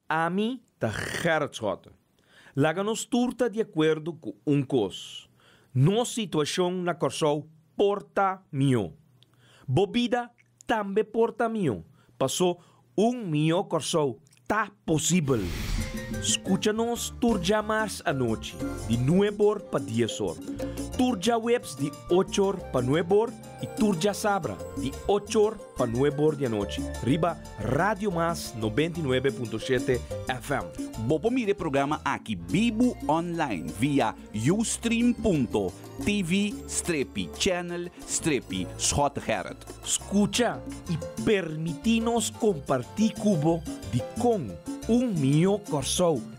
Ami ta Gerrit Schotten. Laga nos tur ta di akuerdo ku un kos, nos situashon na Kòrsou por ta mihó. Bo bida tambe por ta mihó, paso un mihó Kòrsou ta posibel. Skucha nos tur dja mars anochi di nueb or pa dies or, tur djaweps di och or pa nueb or, Y tur djasabra di ocho or pa nuebe or di anochi riba Radio Mas noventa y nuebe punto shete FM. Bo por mira e programa aki bibu online via ustream.tv strepi channel strepi Schotegerrit. Scucha y permiti nos comparti cu bo di con un mihó Corsou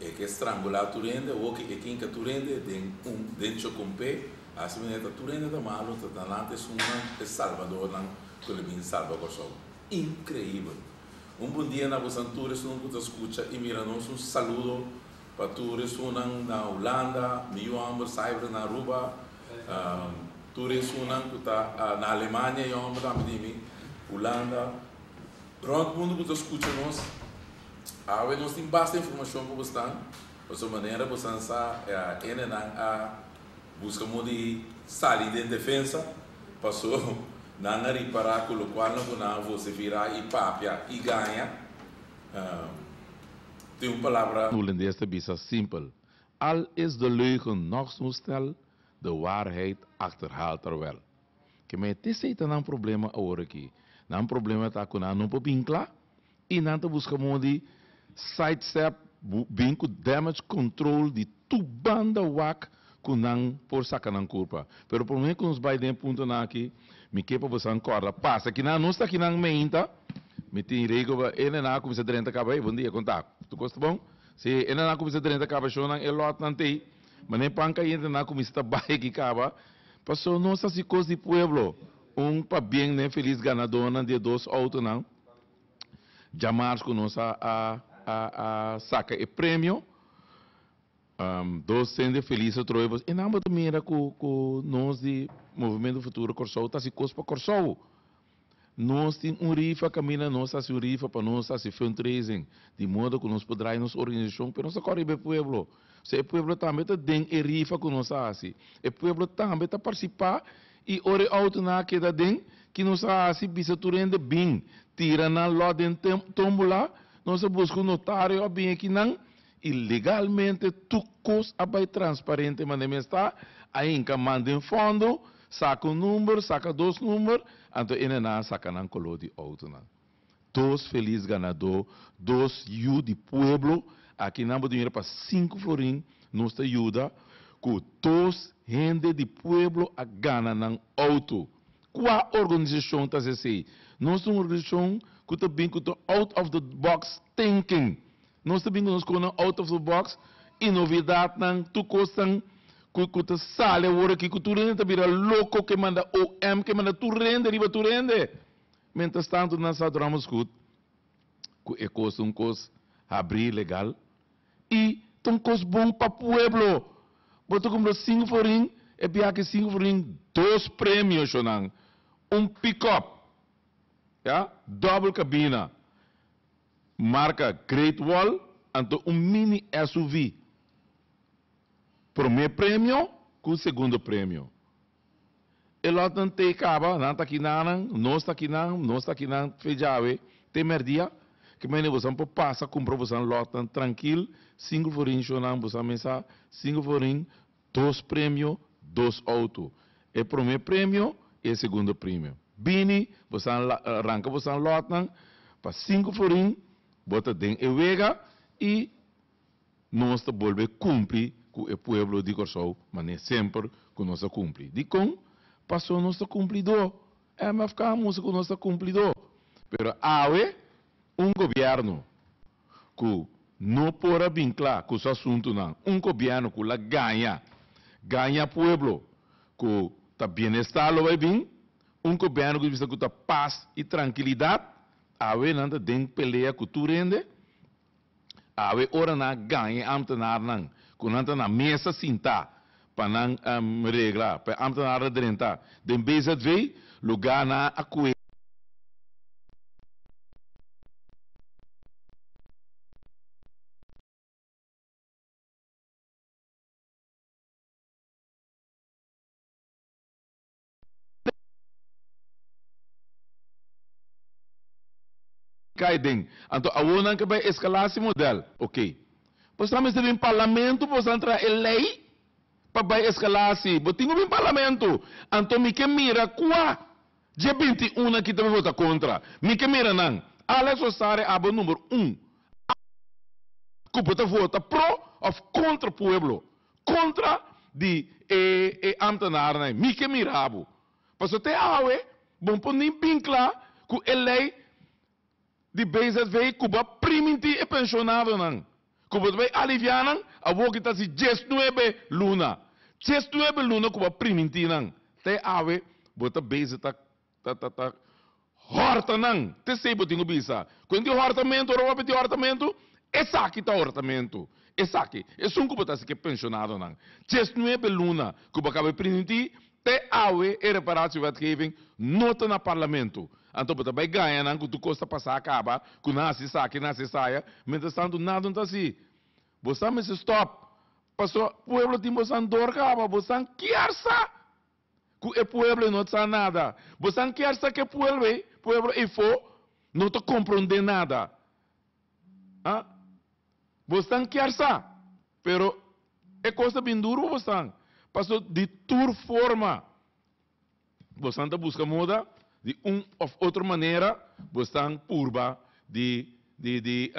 E ke strangula tur hende hoki e kinka tur hende den un den choconpe hasi manera ta tur hende ta malo ta ta alanti esunnan e salbadornan cu lo bin salba Kòrsou increibel un bun dia na abusan tur esun cu ta scucha y mira nos un saludo pa tur esunnan na Hulanda mi yu homber Sybrand na Aruba tur esunnan cu ta na Alemania yu homber tambe di mi Hulanda. Rond mundu ku ta skucha nos, awe nos tin basta informashon ku bo sta pasobra manera bo san sa enenan a buska modo di sali den defensa paso nan a ripará ku lokual nan ku nan a vosifiá i papia i gaña tin un palabra Holandes ta bisa simpel, Al is de leugen nog zo'n snel, de waarheid achterhaalt er wel. Ke me te esei ta nan problema aworakí. Nan problema ta ku nan no por bin kla i nan ta buska modo di sidestep, bin ku damage control di tur banda wak ku nan por saka nan kurpa. Pero promé ku nos bai den e puntonan akí, mi ke pa bosan kòrda pasa ki nan no sta ki nan meinta, mi tin rei ku e nena a kuminsá drenta kaba, Hey, bon dia, konta? Tur kos ta bon? Si e nena a kuminsá drenta kaba, shonnan e lòtnan t'ei. Mane pan ka yenta na kuminsá ta bai aki kaba, paso nos ta hasi kos di pueblo. Un pabien n'e felis ganadónan di e dos outonan djamars ku nos a saka e premio, dos hende felis ta troe pues. E nan bo ta mira ku nos di Movimiento Futuro Kòrsou ta hasi kos pa Kòrsou. Nos tin un rifa kaminda nos hasi un rifa pa nos hasi fundraising di modo ku nos por drai nos organisashon pero nos ta kòrè riba e pueblo so e pueblo tambe ta den e rifa ku nos a hasi e pueblo tambe ta partisipá i ora e outunan a keda den ki nos a hasi bisa tur hende bin tira nan lòt den tòmbola nos a buska un notario a bin aki nan Y legalmente tur cos a bay transparente manda mi esta, a hinca man den fondo, saca un number, saca dos number, anto ene nan a saca nan color di auto nan. Dos feliz ganador, dos yu di pueblo, aki nan bo ta mira pa cinco florin, nos ta yuda cu dos hende di pueblo a gana nan auto. Cua organizacion ta haci esey? Nos ta un organizacion cu ta bin cu ta out of the box thinking. Nos ta bin ku nos konan out of the box y novedadnan, tur kosnan ku ta sali aworakí ku tur hende ta bira loko ke manda OM ke manda tur hende riba tur hende. Mientras tanto nan sa duramos gud ku e kos ta un kos habrí legal y ta un kos bon pa pueblo. Bo ta kumpra sinku forin e bia aki sinku forin dos premio shonan un pickup ya doble cabina. Marca Great Wall anto un mini SUV. Prome premio cu segundo premio. E lotnan tey caba, nan ta kinanan, nos ta kinan, nos ta kinan fe djawe te merdia, ke maine bosan por pasa cumpra bosan lotnan trankil, cinco forin shonan bosan mesa, cinco forin Dos premio, dos auto. E prome premio i e segundo premio. Bini, bo sa la, ranka bo san lòtnan, pa sinku florin bo ta den e wega i nos ta bolbe kumpli ku e pueblo di Kòrsou manera semper ku nos a kumpli. Dikon? Paso nos ta kumplidó. MFK a mustra ku nos ta kumplidó. Pero awe un gobièrnu. ku no por a bin kla ku su asuntunan, un gobièrnu ku la gaña, gaña pueblo, ku ta bienestar lo bai bin, un gobièrnu ku bisa ku ta pas i trankilidat, awe nan ta den pelea ku tur hende, awe ora nan a gaña i ambtenarnan, ku nan ta na mesa sintá pa nan regla, pa e ambtenaar ta drenta den BZW, lugá na a koe. Kai den. Anto awor nan ke bai eskalasi model. Ok. Bo sa mester bin parlamentu pa bo sa traha e lei pa bai eskalasi. Bo tin ku bin parlamentu. Anto mi ke mira kua dje binti un aki ta bin vota kontra. Mi ke mira nan. Alex Osaria abo number un. Abo ku bo ta vota pro of kontra pueblo. kontra di e e ambtenarennan ei. Mi ke mira bo. Paso te awe bo por ni bin kla ku e lei di BZW ku bo a priminti e pensionadonan, ku bo ta bai aliviá nan, a woki ta si dies nuebe luna. Dies nuebe luna ku bo a priminti nan. Te awe bo ta bezig ta. Ta ta ta hòrtanan, t'esei bo tin ku bisa kuenti e hòrtamentu ora bo a pidi hòrtamentu, esaki ta hòrtamentu, esaki. Esun ku bo ta hasi ku e penshonadonan. Djes nuebe luna ku bo a kaba di primintí, te awe e reparatiewetgeving no ta na parlamentu. Anto bo ta bai gaña nan ku tur kos ta pasá a kaba, ku nan hasi esaki, nan hasi esaya, mientrastantu nada no ta hasi. Bosan mester stòp, pasobra pueblo tin bosan dor kaba, bosan kier sa! ku e pueblo ei no ta sa nada. Bo san kier sa ku e pueblo ei, pueblo eifo no ta komprondé nada. A Bo san kier sa, pero e kos ta bin duru pa bosan. Paso di tur forma bosan ta buska moda di un òf otro manera bosan purba di di di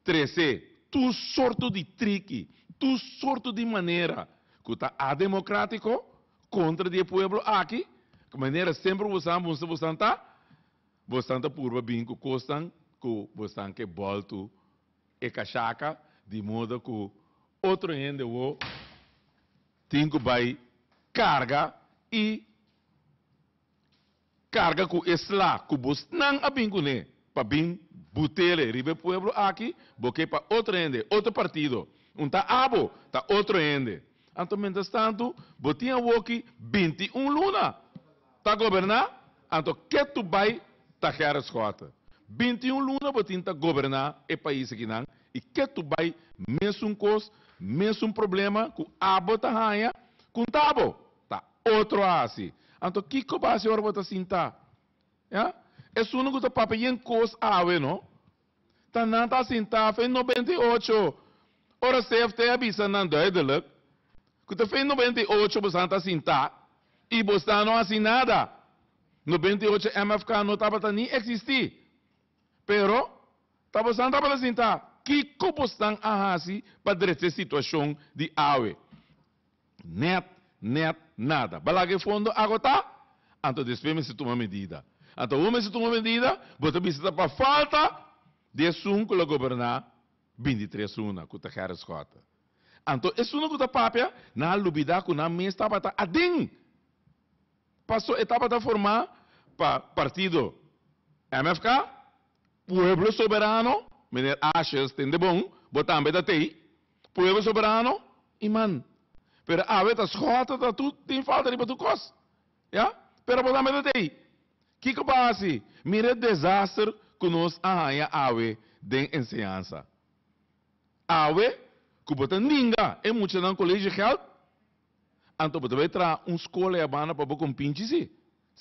Trece, tur sorto di triki, tur sorto di manera cu ta ademocratico contra di e pueblo aki, cu manera semper bo sa bunsu bo santa, bo estan ta purba bin cu cosnan cu bo estan ke boltu e cashaka di modo cu otro hende wo tin cu bay carga y. Carga cu e sla cu bosnan a bin cu ne pa bin butele riba e pueblo aki, bo ke pa otro hende, otro partido, un ta abo, ta otro hende. Anto mientras tanto bo tin awoki binti i un luna ta goberna, anto ke tu bay ta Gerrit Schotten? Binti i un luna bo tin ta goberna e pais akinan i ke tu bay mesun cos, mesun problema cu abo ta haya, con ta abo? Ta otro a hasi. Anto kiko bo a hasi ora bo ta sinta? Ya? Esunnan ku ta papia yen kos awe, no? Ta nan ta sinta af e noventa i ocho ora CFT a bisa nan duideluk ku ta af e noventa i ocho bo san ta sinta i bo san no hasi nada. Noventa i ocho MFK no tabata ni eksistí. Pero, ta bo san tabata sinta. Kiko bo san a hasi pa dretse situashon di awe? Nèt, nèt nada. Bo laga e fondo agotá? Anto despues mester tuma medida. Anto awor mester tuma medida? Bo ta bisa ta pa falta di esun ku lo goberná bini di tres una, ku ta Gerrit Schotten. Anto esunnan ku ta papia, nan a lubidá ku nan mes tabata aden. Paso e tabata formá pa partido MFK, Pueblo Soberano, Meneer Ashes ten de bon, bo tambe ta tei. Pueblo soberano y man. Pero awe ta scoha ta ta tu tin falta riba tu cos. Ya. Pero bo ta mete t'ey. Kico bo a haci? Mira e desaster cu nos a haya awe den enseñansa. Awe cu bo ta ninga e muchanan college geld, anto bo ta bay traha un scola ya banda pa bo con pinchi si?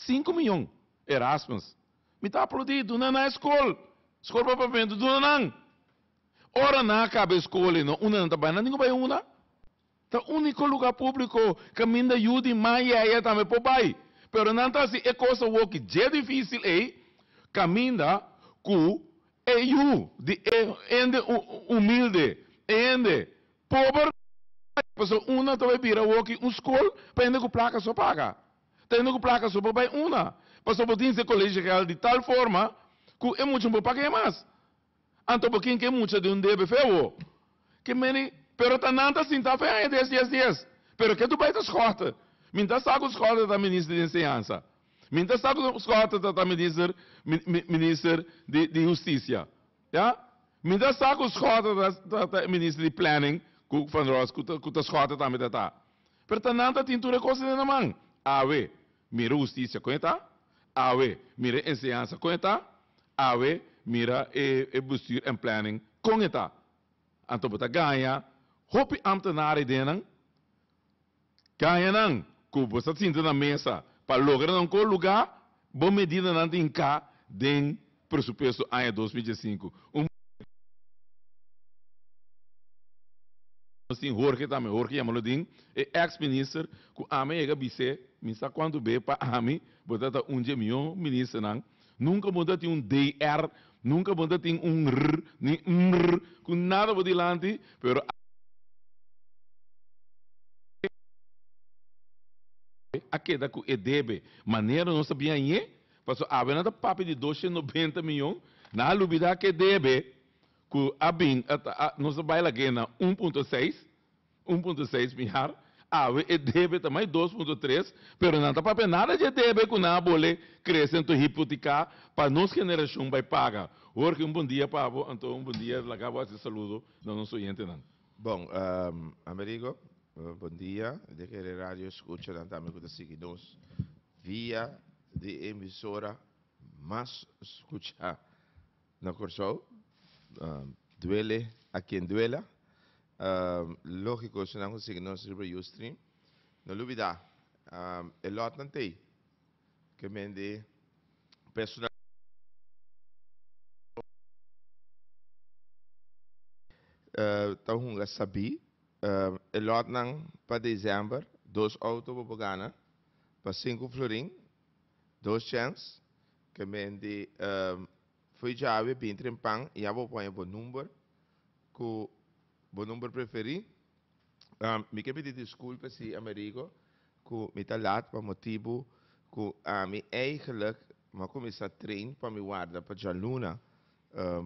Cinco miyon. Erasmus. Mi ta aplaudi. Duna nan e scol. Scol pa pavimento. Duna nan. Ora nan a kaba e skola i no una nan ta bai na ningu bai una, ta úniko lugá públiko kaminda yu di man yaya tambe por bai. Pero nan ta hasi e kos awoki dje difísil ei kaminda ku e yu di e hende humilde, e hende pober bai. Pasobra una ta bai bira awoki un skol pa hende ku plaka so paga, ta hende ku plaka so por bai una. Pasobra bo tin hasi e kolesho real di tal forma ku e muchanan por paga e mas. Anto bo kin ke mucha di un debe fe wo? Ke meni pero ta nan ta sinta fe aña dies dies dies. Pero ke tu bai ta schorte. Min ta sa ku schorte ta minister di enseñansa. Min ta sa ku schorte ta ta minister minister di di husticia. Ya. Min ta sa ku schorte ta ta ta e minister di planning ku van Ross ku ta ku ta schorte tambe ta ta. Pero ta nan ta tin tur e kos den nan man. Awe. Mira husticia kon e ta. Awe, mira e enseñansa kon e ta. Awe, mira e bestuur en planning kon e ta. Anto bo ta gaña hopi ámtenar e ideanan, gañanan ku bo sa sinti na mesa pa logra nan kon lugá bo medidanan tin hinká den Presupuesto aña dos mil diesinku, un mucha di nos tin Jorge tambe, Jorge yamalo din, e ex minister ku ami a yega bis'é, mi sa kuantu be pa ami bo ta ta un di e mihó ministernan, nunka bo no ta tin un DR, nunka bo no ta tin un R ni MR ku nada bo dilanti, pero a keda ku e debe, manera nos ta biañ'é. Paso awe nan ta papia di doshen nobenta miyon, nan a lubida ke debe ku a bin, nos a bai la ke na un punto seis, un punto seis miar, awe e debe ta mai dos punto tres, pero nan ta papia nada dje debe ku nan a bole krese anto hipotiká pa nos generashon bai paga. Jorge un bon dia pa bo, anto un bon dia laga bo hasi saludo na nos oyentenan. Bon, Amerigo, bon dia, e deke de radio eskuchanan tambe ku ta sigui nos. Via di e emisora mas scucha na Corsou, duele a quien duela, logico si nan a sigui nos riba Ustream. No lubida e lotnan t'ey ke men di personalidad di Corsou ta hunga sabi e lotnan pa December, dos auto bo por gana. pa sinku florin, dos chèns, ke menti fo'i djabi e bin tren pan i abo poña bo number ku bo number preferí. Mi ke pidi diskulpe si Amerigo ku mi ta lat pa motibu ku ami eigelijk mi a kuminsá tren pa mi warda pa djaluna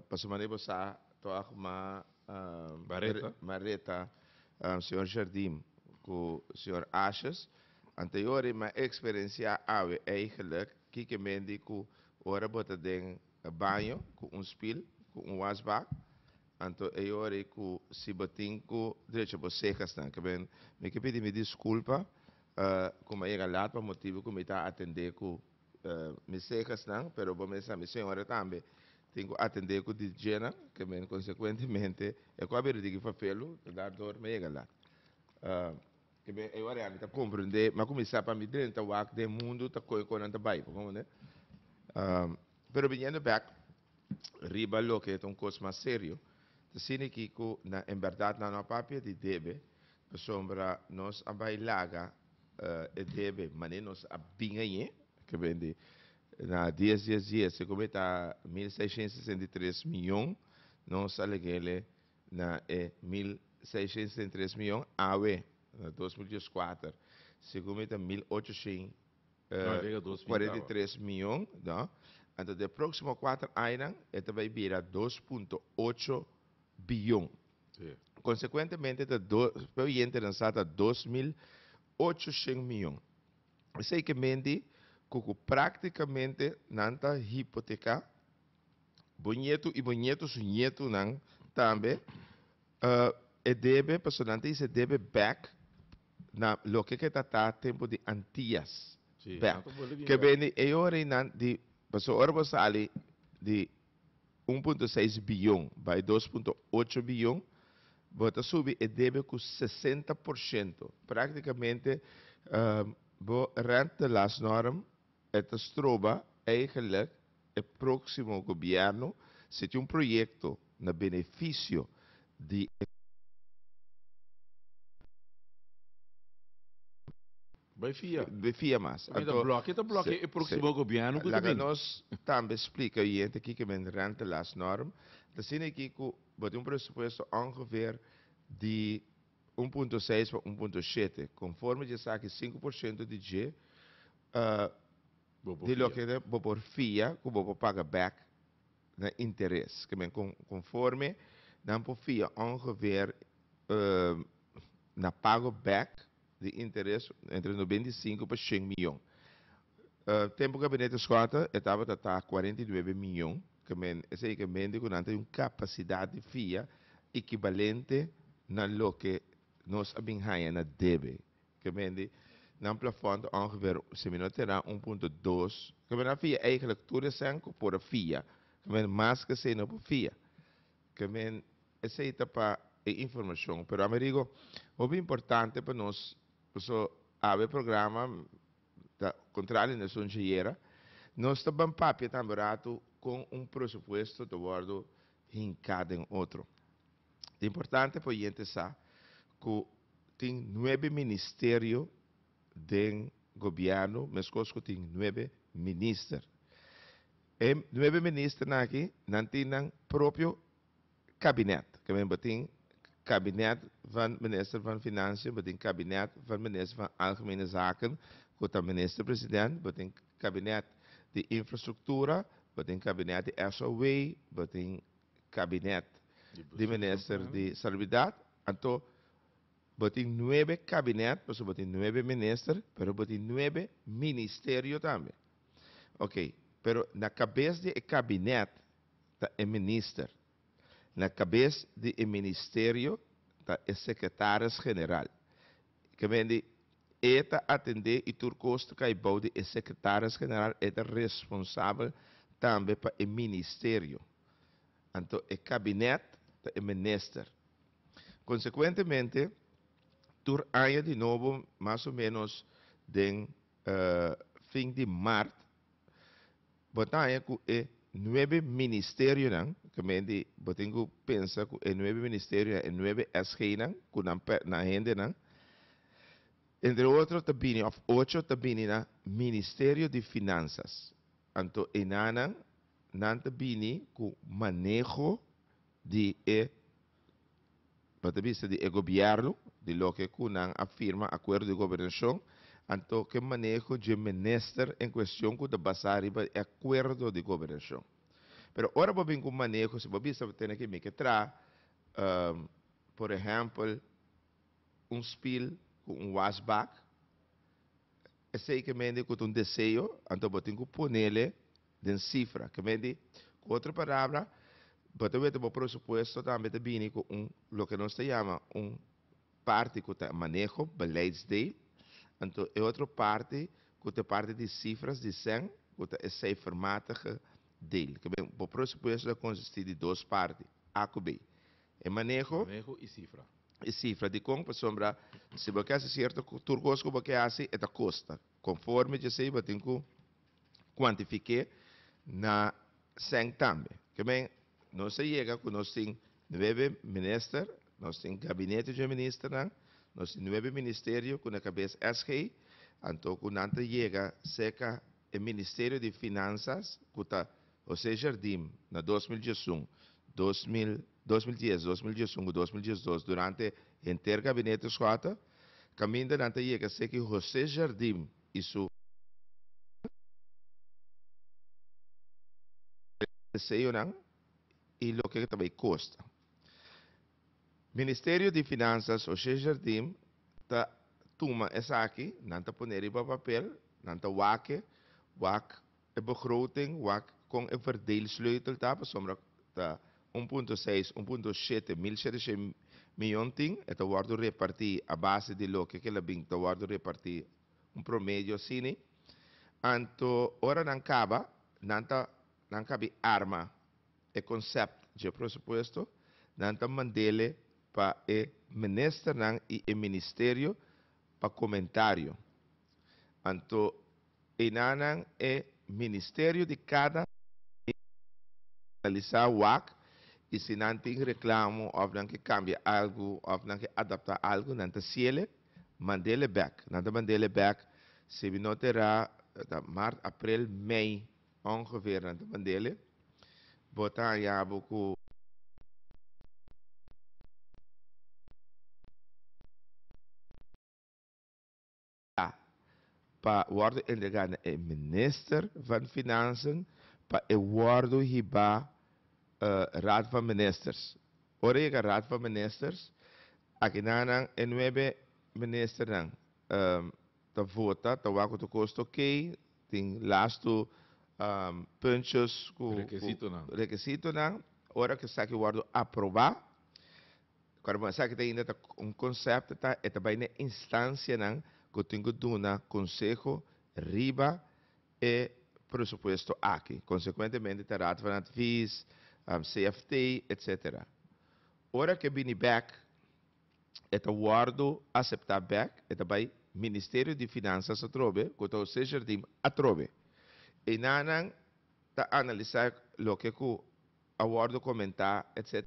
Pasobra manera bo sa, to a kuma bareta, señor Jardim ku señor Ashes. Ante yora i m'a eksperensiá awe eigelik kiko mende ku ora bo ta den baño ku un spil, ku un wasbak, anto e yora ku si bo tin ku drecha bo seka snan. Ke men, mi ke pidi mi diskulpa ku m'a yega lat pa motibu ku mi ta atendé ku Mi sehasnan, pero bo mes sa mi señora tambe tin cu atende cu di djenan, ke men consecuentemente e cu a bira digi fafel lo ta dar dor me yega lat. Ke ben e ora ya mi ta comprende ma cu mi sa pa mi drenta wak den mundo ta coe con nan ta bay, bo comprende. Pero biniendo back riba loke ta un kos mas serio, ta sini ki ku na en bèrdat nan no a papia di debe, pasobra nos a bai laga e debe manera nos a bin añé, ke ben di na dies dies dies, e kobé ta mil seishent sesenta i tres miyon, nos a legele na e mil seishent sesenta i tres miyon awe na dos mil dies kuater, si kobé ta mil ochoshent kuarenta i tres mion, no? Anto den e próksimo kuater añanan e ta bai bira dos punto ocho biyon. Konsekuentemente ta pe oyentenan sa ta dos mil ochoshen mion. Esei ke menti ku ku práktikamente nan ta hipoteká bo ñetu i bo ñetu su ñetunan tambe e debe, pasobra nan ta hise debe bèk. na loke ke ta ta tempu di Antias. Bel, ke beni e yorinan di, pasobra ora bo sali di un punto seis biyon bai dos punto ocho biyon, bo ta subi e debe ku sesenta por shento. Praktikamente bo rent the last norm E ta stroba eigenlik e próksimo gobièrnu si tin un proyekto na benefisio di e. Bai fia. Bai fia mas. Mi ta blòk'e ta blòk'e e próksimo gobièrnu ku ta bini. Laga nos tambe splika e oriente kiko men rentelasnorm ta asina aki ku bo tin un presupuesto ongeveer di. un punto seis pa un punto shete, konforme dje esaki sinku por shento di dje di loke bo por fia ku bo por paga bèk na interes, ke men konforme nan por fia ongeveer na pago bèk di interes entre nobenta i sinku pa shen miyon. Tempu Gabinete Scott e tabata ta cuarenta y nuebe miyon kemen, esei ke mente ku nan tin un kapasidat di fia ekibalente na loke nos a bin haña na debe. Kemen di nan plafòn ta ongeveer semino tera un punto dos. Kemen nan fia eigenlik tur esèn ku por a fia. Kemen mas ke esei no por fia. Kemen esei ta pa e informashon. Pero ami rigo hopi importante pa nos, paso awe programa. Ta contrario na esun dje yera. Nos ta ban papia tambe rato con un presupuesto ta wordo hinca den otro. Ta importante pa oyente sa cu tin nuebe ministerio den gobierno mescos cu tin nuebe minister. E nuebe ministernan aki nan tin nan propio. Kabinet, Kaminda batin Kabinet van Minister van Financiën, batin Kabinet van Minister van Algemene Zaken, ku ta Minister President, batin Kabinet di Infrastruktura, batin Kabinet di SOW, batin Kabinet di Minister di Salubridat. Anto batin nuebe Kabinet, pasobra batin nuebe Minister, pero batin nuebe Ministerio tambe. Oke, pero na kabes di e Kabinet ta e minister. Na kabes di e ministerio ta e sekretaris general. Kemendi e ta atendé i tur kos ta kai bou di e sekretaris general, e ta responsabel tambe pa e ministerio. Anto e kabinet ta e minister. Konsekuentemente, tur aña di nobo mas o ménos den fin di mart Bo ta haña ku e nuebe ministerionan, ke men di bo tin ku pensa ku e nuebe ministerionan, e nuebe SGnan ku nan per, nan hendenan, entre otro ta bini, òf ocho ta bini na Ministerio di Finansas. Anto enanan, nan ta bini ku maneho di e pa ta bista di e gobierno, di loke cu nan a firma acuerdo di gobernacion, anto ke maneho dje minister en cuestion cu ta basa riba e acuerdo di gobernacion. Pero ora bo bin cu un maneho, si bo bisa bo tene ke mike tra, por ehempel, un spill cu un wasbak, esey ke mende cu ta un deseo, anto bo tin cu ponele Den sifra. Ke medi, ku otro parabra, bo ta wete bo presupuesto tambe ta bini ku un loke nos ta yama un parti ku ta maneho, beleidsdeel, anto e otro parti ku ta parti di sifras, di sèn, ku ta e seifermatige deel. Ke men, bo presupuesto ta konsistí di dos parti, A ku B. E maneho. Maneho i sifra. I sifra. Dikon? Pasobra si bo ke hasi sierto tur kos ku bo ke hasi, e ta kosta. Konforme djesei batin ku kuantifiké na sèn tambe. Ke men, nos a yega ku nos tin nuebe minister, nos tin gabinete dje ministernan, nos tin nuebe ministerio ku na kabes SG, anto ku nan ta yega serka e Ministerio di Finansas ku ta José Jardim na dos mil diesun, dos mil, dos mil dies, dos mil diesun ku dos mil diesdos durante henter gabinete Schotten. Kaminda nan ta yega seki José Jardim i su deseonan i loke ta bay kosta. Ministerio di Finansas José Jardim ta tuma esaki, nan ta pone riba papel, nan ta wak e wak E begroting wak kon e verdeelsleutel ta pasobra ta un punto seis, un punto shete, mil shete shei, mion tin e ta wòrdu repartí a base di loke ke la bin ta wòrdu repartí, un promedio asini. Anto ora nan kaba, nan ta nan kabi arma e konsept dje presupuesto, nan ta mand'ele pa e ministernan i e ministerio pa komentario. Anto Enanan e ministerio di kada i analisá wak i si nan tin reklamo òf nan ke kambia algu òf nan ke adaptá algu nan ta siele mandele bèk. Nan ta mandele bèk si mi no te ra ta mart aprel mei ongeveer nan ta mandele bo ta haña bo ku A. Pa worde entrega na e Minister van Finansen pa e worde hiba Raad van Ministers. Ora yega Raad van Ministers, akinannan e nuebe Ministernan ta vota, ta wak ku ta kos ta oké, tin lastu puntjes ku rekisitonan. Ora esaki worde aproba. Kor bo esaki ta ainda ta un konsèpto ta e ta bai na e instansianan ku tin ku duna konseho riba e presupuesto aki. Konsekuentemente ta Raad van Advies, CFT, etsetera. Ora ku e bini bèk e ta wòrdu aseptá bèk, e ta bai Ministerio di Finansas atrobe ku ta José Jardim atrobe. Einanan ta analisá loke ku a wòrdu komentá etc.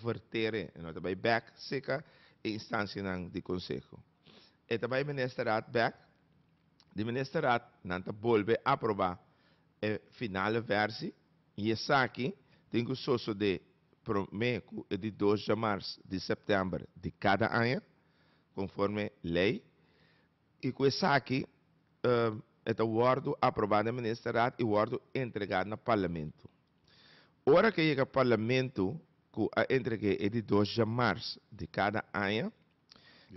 Vertere e no ta bai bèk sika e instansianan di konseho. E ta bai Ministerraad bèk. Di Ministerraad nan ta bolbe aprobá e finale versi i esaki tin ku sosodé promé ku e di dos djamars di sèptèmber di kada aña, konforme lei. I ku esaki e ta wòrdu aprobá den Ministerraad i wòrdu entregá na Parlamento. Ora ku e yega Parlamento ku a entreg'é e di dos djamars di kada aña,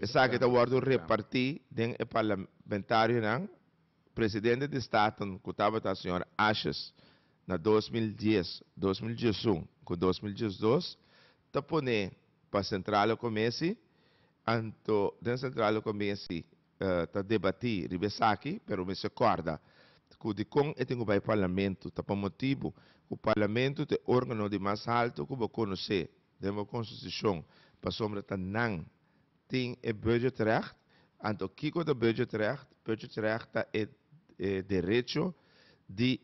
esaki ta wòrdu repartí den e parlamentarionan, Presidente di Staten ku tabata señor Ashes na dos mil dies, dos mil diesun ku dos mil diesdos, ta pone pa Centrale Comessie Anto den Centraal lo cominsi ta debati riba esaki, pero mi si corda cu di con e tin cu bai Parlamento ta pa motibu cu Parlamento ta e organo di mas halto cu bo conoce den bo Constitucion pasobra ta nan tin e budgetrecht. Anto kico ta budgetrecht? Budgetrecht ta e derecho di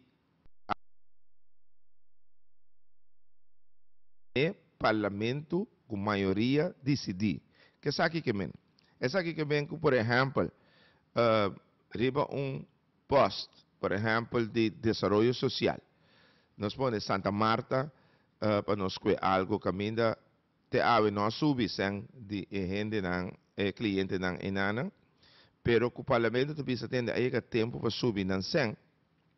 e parlamento cu mayoria dicidi. Kesaki ke men? Esaki ke men cu por ehempel riba un post por ehempel di desaroyo social nos pone Santa Marta pa nos scue algo caminda te awe no a subi seng di e hendenan e clientenan enanan pero cu parlamento ta bisa tende a yega tempo pa subi nan seng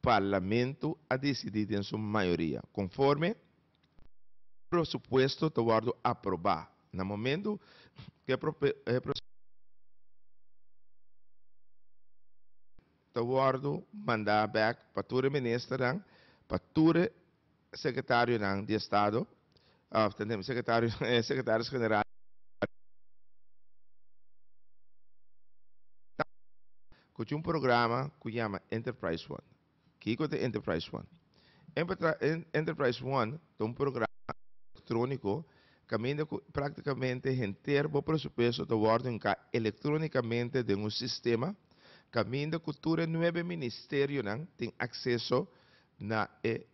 Parlamento a decidí den su mayoria conforme prosupuesto ta wòrdu aprobá na momento cu e prosupuesto ta wòrdu mandá bek pa tur e ministernan pa tur e Secretarionan di Estado, of ta entende, secretarionan e Secretaris General di Estado, cu tin un programa cu yama Enterprise One. Kico ta Enterprise One? Enterprise One ta un programa electronico caminda cu practicamente henter bo presupuesto ta wordo enca electronicamente den un sistema caminda cu tur e nuebe Ministerionan tin acceso na e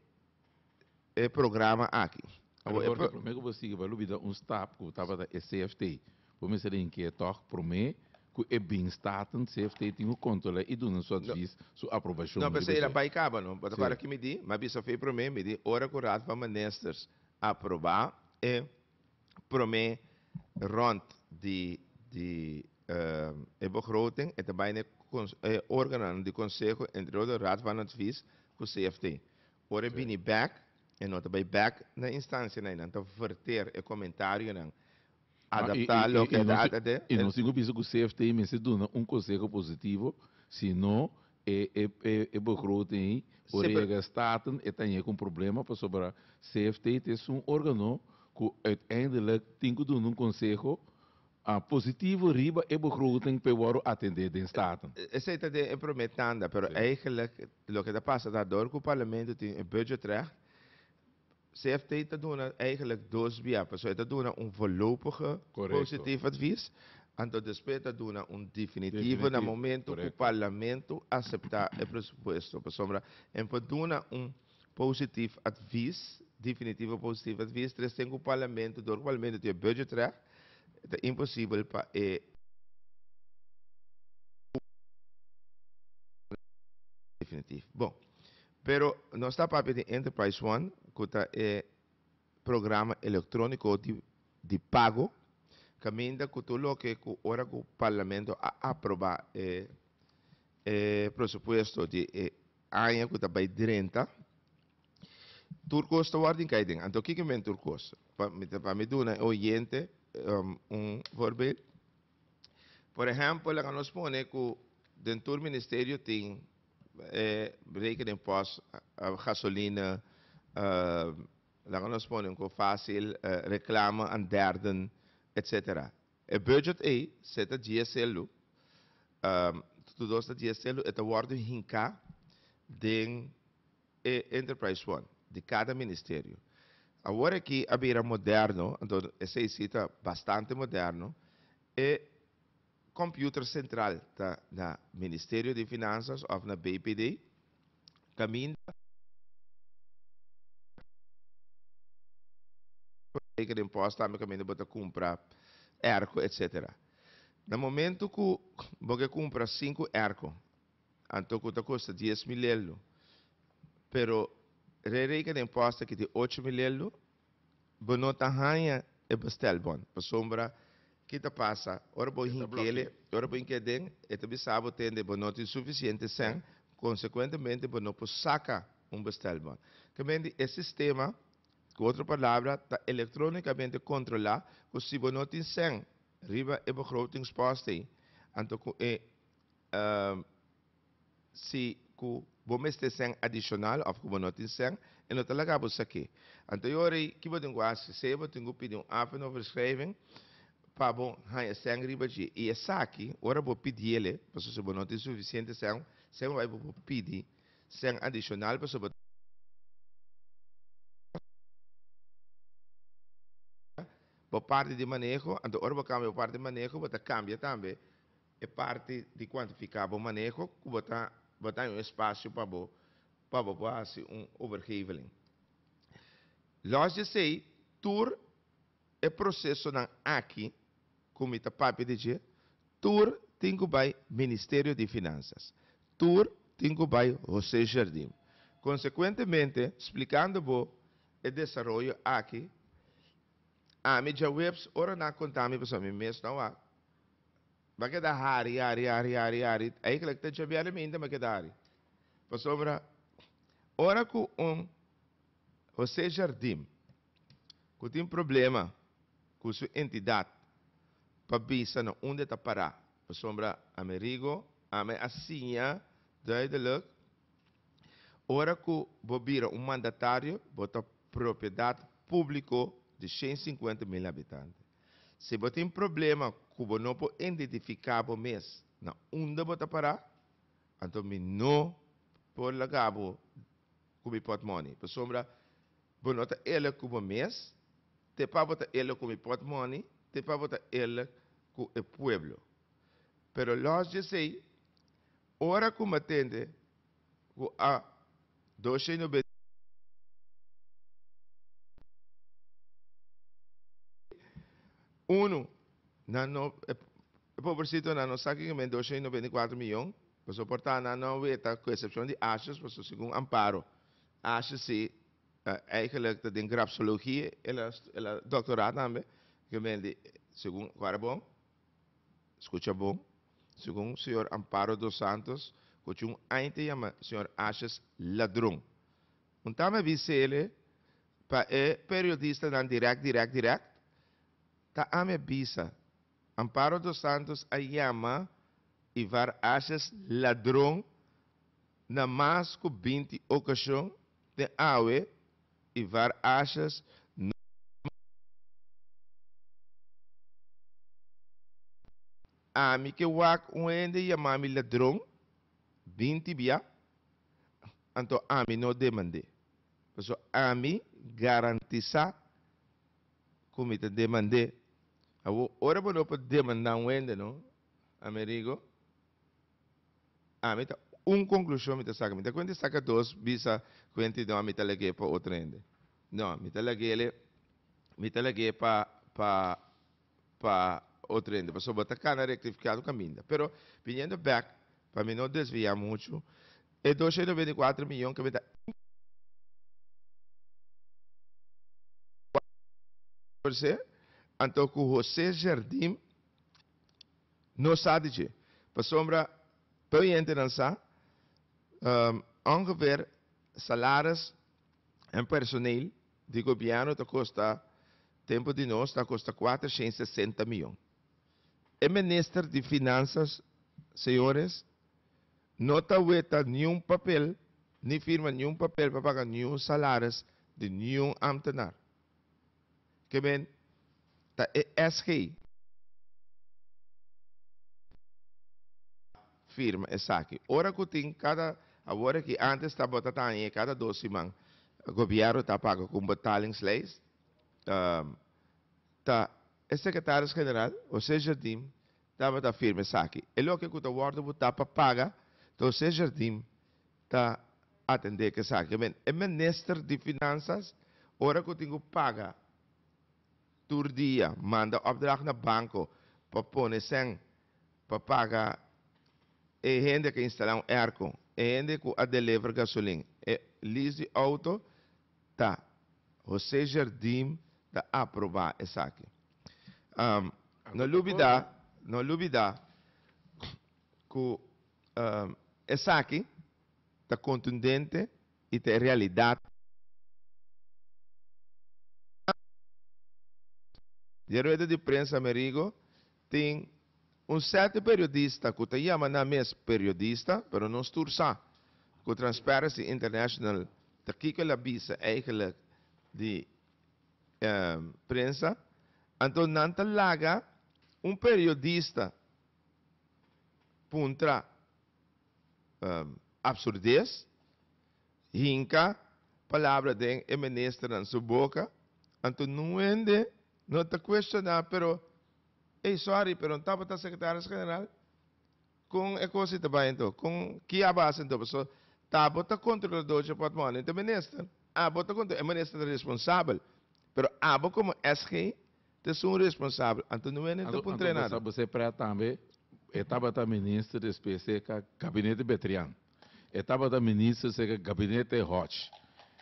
e programa aki. Abo e pro. Prome ku bo sigui bo a lubida un stap ku tabata e CFT. Bo mester a hink'é tòg prome ku e bin Staten CFT tin ku kontrol'é i duna su advis, su aprobashon. No, p'esei el a bai kaba no. Bo ta kòrda ki mi di? M'abisa fe prome, mi di ora ku Raad van Ministers aproba e. prome rond di di e begroting, e ta bai na e cons e organonan di conseho, entre otro Raad van Advies cu CFT. Ora e bini bek, e no ta bai bek na instancianan, e nan ta verter e comentarionan, adapta loke e ta, e ta den. I nos tin cu bisa cu CFT mester duna un conseho positivo, sino E e e e begroting ei por Sí, pero. rega staten e ta yega un problema pasobra CFT ta es un organo cu uiteindelijk tin cu duna un conseho ah positivo riba e begroting pa e wordo atende den staten. Esey ta den e prome tanda, pero Sí. eigenlijk loke ta pasa ta door cu Parlamento tin e budgetrecht. CFT ta duna eigenlijk dos bia, paso e ta duna un voorlopige positief advies, anto despues e ta duna un definitivo na momento cu Parlamento acepta e presupuesto. Pasobra en por duna un positief advies, definitivo positief advies, tres tin cu Parlamento, door cu Parlamento tin e budgetrecht, e ta imposibel pa e. Definitief. Bon. Pero nos ta papia di Enterprise One cu ta e programa electronico di di pago caminda cu tur loke cu ora cu Parlamento a aproba e e presupuesto di e aña cu ta bay drenta tur cos ta wordo incay den. Anto kico men tur cos? Pa mi ta pa mi duna e oyente un voorbeeld. Por ehempel laga nos pone cu den tur ministerio tin. E berekenen pos gasolina laga nos pone un ko fasil reklama an derden etc. E budget ei se ta djia seldu tutu dos ta djia seldu e ta wordu hinka den e enterprise fund di kada ministerio. Awor aki a bira moderno anto esei si ta bastante moderno e Computer central ta na Ministerio di Finanzas of na BPD, caminda Beker den Pos tambe caminda bo ta cumpra erco etc. Na momento cu bo ke cumpra cinco erco anto cu ta custa diez mil leldo pero rey rey ke den pos ta kiti ocho mil leldo Bo no ta haña e bestel bon, pasobra ki ta pasa, ora bo hinkele, ora bo hink'e den, e ta bisa bo tende bo no tin sufisiente sèn, konsekuentemente bo no por saka un bestel bon. Kamente e sistema, ku otro palabra, ta elektrónikamente kontrolá, ku si bo no tin sèn riba e begrotingspòst ei, anto ku e Si cu bo mester sèn adicional of cu bo no tin sèn, e no ta laga bo saki. Anto yo rei, ki bo tin cu haci? Sea bo tin cu pidi un afenoverschrijving pa bo haña sèn riba dje, i esaki, ora bo pidiele, pasobra si bo no tin suficiente sèn, sea bo bai bo por pidi sèn adicional pasobra bo ta cambia bo parti di maneho, anto ora bo cambia bo parti di maneho, bo ta cambia tambe e parti di kuantifiká bo maneho ku bo ta bo ta haña un espasio pa bo pa bo por hasi un overgeveling. Lòs di esei, tur e prosesonan aki ku mi ta papia di dje, tur tin ku bai Ministerio di Finansas, tur tin ku bai José Jardim. Konsekuentemente, splikando bo e desaroyo aki, ami djaweps ora nan a konta mi pasobra mi mes no a. Ba keda hari, hari, hari, hari, hari, eigenlijk ta djabiale mi inda mi a keda hari. Pasobra ora ku un Jose Jardim ku tin problema ku su entidat pa bisa na unda ta para, pasobra Amerigo ami a siña duideluk ora ku bo bira un mandatario bo ta propiedat públiko di shen sinkuenta mil habitante. Si bo tin problema ku bo no por identifiká bo mes na unda bo ta pará, anto mi no por laga bo ku mi pòtmòni, pasobra bo no ta eerlik ku bo mes, te pa bo ta eerlik ku mi pòtmòni, te pa bo ta eerlik ku e pueblo. Pero lòs dje sei, ora ku m'atende ku a doce no bes uno nan no e pobrecito nan no sa kico men doce y noventa y cuatro miyon pasobra por ta nan no weta cu excepcion di ashes pasobra segun Amparo ashes si eigenlijk ta den grapsologie el a doctora tambe kico men di segun cu a rabon Scucha bon, segun señor Amparo dos Santos, cu cu un aña ta yama señor Ashes ladron. Un ta me bisele pa e periodistanan direct, direct, direct? Ta a me bisa, Amparo dos Santos a yama Ivar Ashes ladron na mas cu binti ocasion den awe? y var ashes no a mi ke wak un hende yama mi ladron bin tibia anto a mi no demande paso a mi garantisa cu mi ta demande awo ora bo no por demanda un hende no amerigo Ami ta un conclusion mi ta saca. Mi ta cuente saca dos bisa cuente no ami ta lagué pa otro hende. No, mi ta laguele, mi ta lagué pa pa pa otro hende pasobra bo ta cana rectificado caminda. Pero viniendo back pa mi no desvia mucho, e dosciento noventa y cuatro miyon que mi ta inverse anto cu Jose Jardim No sa di dje, pasobra tur hentenan sa, ongeveer, salaris en personeel di gobierno ta kosta, tempu di nos, ta kosta kuater shen sesenta miyon. E Minister di Finanzas, señores, no ta weta niun papel ni firma niun papel pa paga niun salaris di niun ambtenaar. ke men ta e SG. firma esaki. Ora ku tin kada, awor aki antes ta bo ta taña e kada dos siman gobièrnu ta paga ku un betalingslijst, ta e sekretaris general José Jardim Tabata firma esaki, E loke ku ta wòrdu butá pa paga ta Hosé Jardim ta atendé ku esaki. I mean, e minister di Finansas ora ku tin ku paga tur dia manda opdracht na banko pa pone sèn pa paga e hende ku a instalá un èrko, e hende ku a delever gasolin, e lease di outo Ta, José Jardim ta aprobá esaki. No lubidá, no lubidá ku esaki ta kontundente i ta e realidat. Den rueda di prensa Amerigo Tin un sète periodista ku ta yama nan mes periodista, pero no stur sa ku Transparency International ta kiko el a bisa eigelik di e prensa. Anto nan ta laga un periodista puntra absurdes, hinka palabra den e ministernan su boka, anto nuende No ta cuestioná, pero ey sorry, pero un tabata secretaris general? Con e cosa y ta bay enton? Con ki a base enton? Paso ta bo ta controlador dje portmone dje minister, a bo ta controlador, e minister ta responsabel, pero a bo como SG ta esun un responsabel, anto no wene enton pa un trainado. Anto bo sa bo ser pret tambe, e tabata minister, despues e ka gabinete Betrian. E tabata minister seca gabinete Hodge.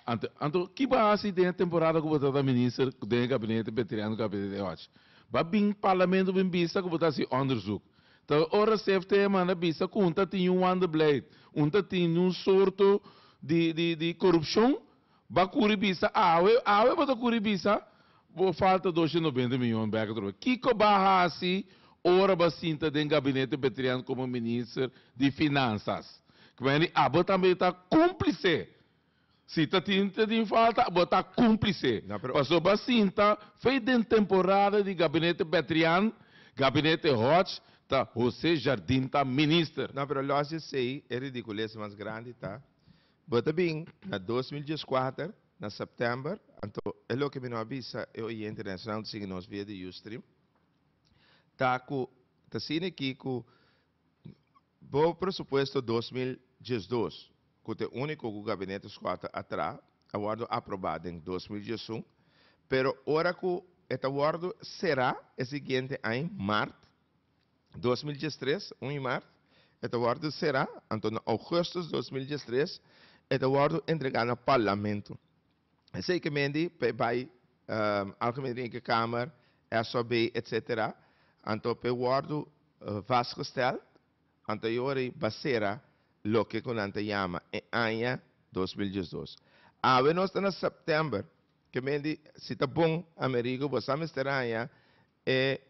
Anto, anto ki bo a haci den e temporada cu bo tabata minister den e gabinete Beteriano gabinete Hodge? Ba bin parlamento bin bisa cu bo ta haci onderzoek. Ta ora CFT a manda bisa cu un ta tin un wanderbeleid, un ta tin un sorto di, di, di corupcion. Ba kuri bisa awe, awe bo ta kuri bisa bo falta dosciento noventa miyon bek atrobe. Kiko ba hasi ora ba sinta den gabinete Betrian komo minister di Finansas? Kmen di abo tambe ta kumplise. Si ta tin ta tin falta bo ta kumplise. Paso ba sinta fe den temporada di gabinete Betrian, gabinete Hodge ta Jose Jardim ta minister. No pero los esei e ridicules mas grandi ta Bo ta bin na dos mil dieskuater na sèptèmber, anto e loke mi no a bisa e oyente den esnan ta sigui nos via di Ustream ta ku ta sini ki ku bo presupuesto dos mil diesdos, ku ta e úniko ku Gabinete Scott a tra, a wòrdu aprobá den dos mil diesun, pero ora ku e ta wòrdu será e siguiente aña mart dos mil dies tres, un i mart, e ta wòrdu será, anto na ougùstus dos mil dies tres e ta wòrdu entregá na Parlamento. Esei ke men di pa e bai Algemene Rekenkamer, SOB, etsetera, anto pa e wòrdu vastgesteld, anto e ora ei basera loke ku nan ta yama e aña dos mil dies dos. Awe nos ta na sèptèmber, ke men di si ta bon Amerigo bo sa mester haña e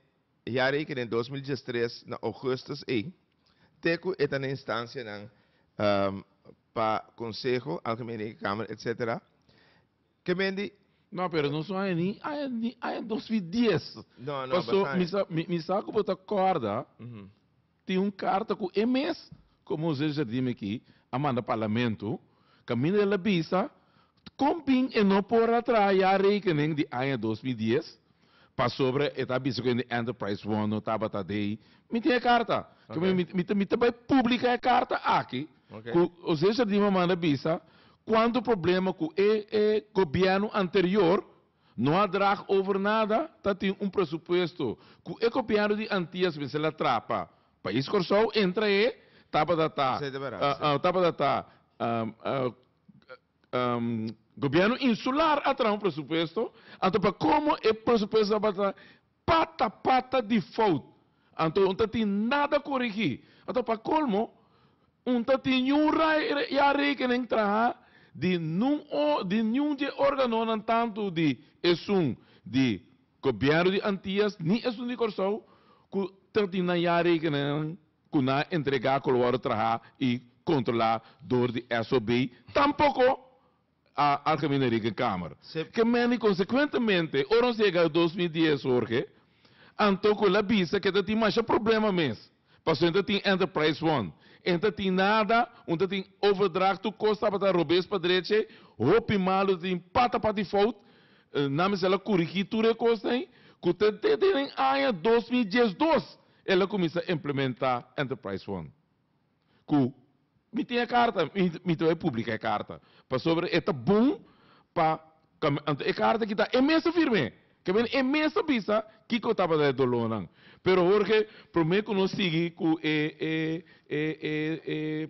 E ya reken den dos mil diestres na ogustus ei, te ku e ta na instancianan pa Conseho, Algemene Reken Kamer, etc. Ke men di? No, pero no son aña ni aña ni aña dos mil dies. No, no, basta aña. Paso mi sa mi mi sa ku bo ta kòrda. Tin un karta ku e mes Komo José Jardim aki a manda Parlamento, kaminda el a bisa kon bin e no por a traha jaarrekening di aña dos mil dies pasobra e ta bisa ku e Enterprise One no tabata dei. Mi tin e karta. Oké. Mi ta bai publika e karta aki Oké. ku José Jardim a manda bisa kuantu problema ku e gobièrnu anterior No a drag over nada, ta tin un presupuesto cu e Gobierno di Antillas mester a traha pa Pais Corsou entra e tabata ta tabata ta Gobierno Insular a traha un presupuesto, anto pa como e presupuesto tabata Pata pata di fout. Anto un ta tin nada korigí. Anto pa kolmo, un ta tin niun rae ya rekenen traha di nun o di niun dje organonan tantu di esun di Gobièrnu di Antias ni esun di Kòrsou ku ta tin nan ya rekenennan ku nan a entregá ku lo wòrdu trahá i kontrolá dor di SOB. Tampoko a Algemene Rekenkamer. Ke mendi konsekuentemente, ora nos yega dos mil dies, Jorge, anto ku el a bisa ke ta tin masha problema mes, pasobra e ta tin enterprise fund, e ta tin nada, un ta tin overdracht tur kos tabata robes pa drechi, hopi malu ta tin pata pa default, nan mester el a kurigí tur e kos na ei, ku ta te den aña dos mil diesdos el a kuminsá implementá enterprise fund. ku mi tin e karta, mi ta bai publika e karta, pasobra e ta bon pa kami. Anto e karta kita e mes ta firm'é, kende e mes ta bisa kiko tabata e dolónan. Pero Jorge, promé ku nos sigui ku e e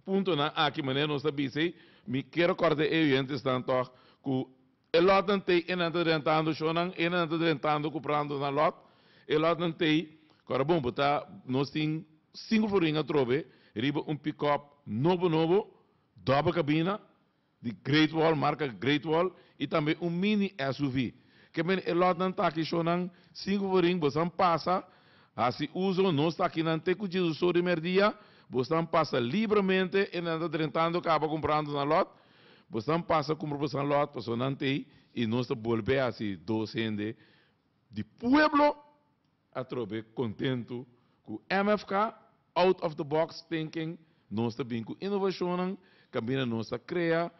puntonan aki manera nos ta bis'ei, mi kier rekòrda e oyentesnan tòg ku E lotnan t'ei e nan ta drentando shonan, e nan ta drentando ku prando nan lòt, e lòtnan t'ei ku ara bon bo ta nos tin sinku forin atrobe riba un pikòp nobo nobo dòbel kabina di great wall marka great wall i tambe un mini SUV ke men e lòtnan t'aki shonan sinku forin bo stan pasa hasi uso nos t'aki nan te ku Jesus so di mèrdia bo stan pasa libramente e nan ta drentando kaba kumprando nan lòt. Bosan pasa cumpra bosan lot pasobra nan ta ey y nos ta bolbe haci dos hende di pueblo atrobe contento cu MFK out of the box thinking nos ta bin cu innovacionnan caminda nos ta crea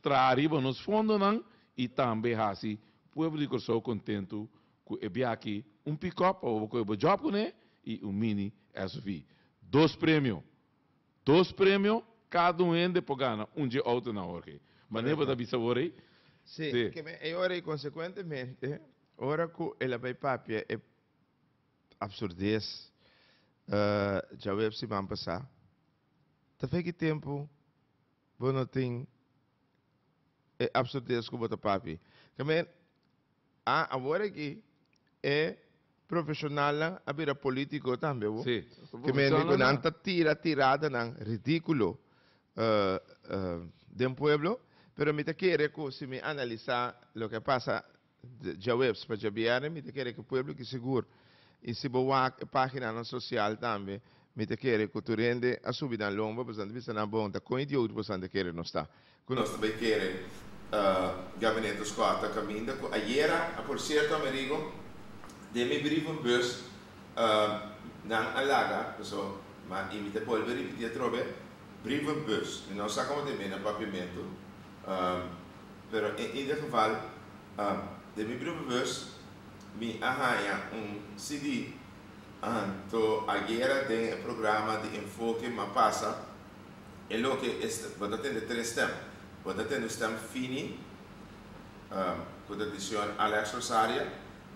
traha ariba nos fondonan y tambe haci pueblo di Curazao contento cu e biakiy un pickup pa bo coge bo job cune y un mini SUV dos premio Dos premio cada un hende por gana un dje auto na awor key. Mane bo ta bisa awor ey? Sí, ke me ey ora y consecuentemente ora cu el a bay papia e absurdez djaweps di man pasa ta feki tempo Bo no tin e absurdez ku bo ta papia. Kende a awor aki e profeshonalnan a bira polítiko tambe bo. Si. Kende mi ku nan ta tira tiradanan ridíkulo den pueblo, pero mi ta kere ku si mi analisá loke a pasa Djaweps pa djabièrnè mi ta kere ku pueblo ki sigur i si bo wak e paginanan sosial tambe mi ta kere ku tur hende a subi nan lomba boso tabata bisa nan bonta kon idiot boso nan ta kere nos ta. Ku nos ta bai kere Gabinete Oscar ta kaminda ku ayera a por sierto Amerigo den mi brievenbus nan a laga boso ma i mi ta bolbe ripiti atrobe brievenbus mi no sa komo ta e mena papiamentu pero en ieder geval den mi brievenbus mi a haña un CD anto ayera den e programa di Enfoke m'a pasa e loke e stem, bo ta tende tres stem, bo ta tende stem Fini ku ta di señor Alex Rosaria,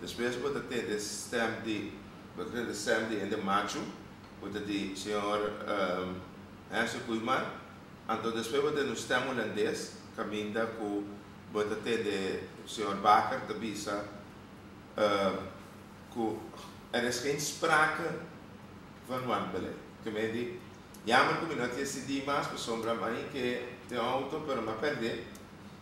despues bo ta tende stem di bo ta tende stem di hende machu ku ta di señor Hensley Koeiman. Anto despues bo tende un stem hulandes caminda cu bo ta tende señor Bakker ta bisa cu er is geen sprake van wandelen. Cu mi a di, Jammer cu mi no a tien CD mas pasobra mi a haña ke den auto pero mi a perde.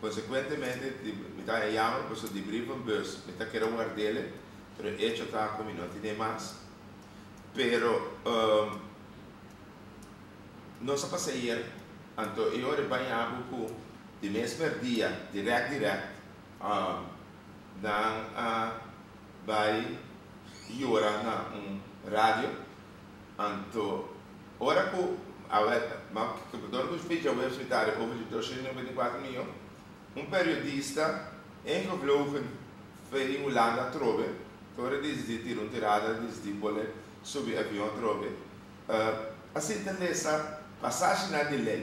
Consecuentemente mi ta haña jammer pasobra di brief van bus mi ta kere wardele pero e hecho ta cu mi no a tin'e mas. Pero. Nos a pasa ayer, anto e ora e baña bo cu di mesmer dia, direct direct, nan a bay yora na un radio, anto ora cu a door cu Spits a wens Ritari over di doscientos noventa y cuatro miyon, un periodista ingevlogen veni Hulanda atrobe, tora disdi tira un tirada disdi bole subi avion atrobe, Asina ta lesa pasashinan di lei.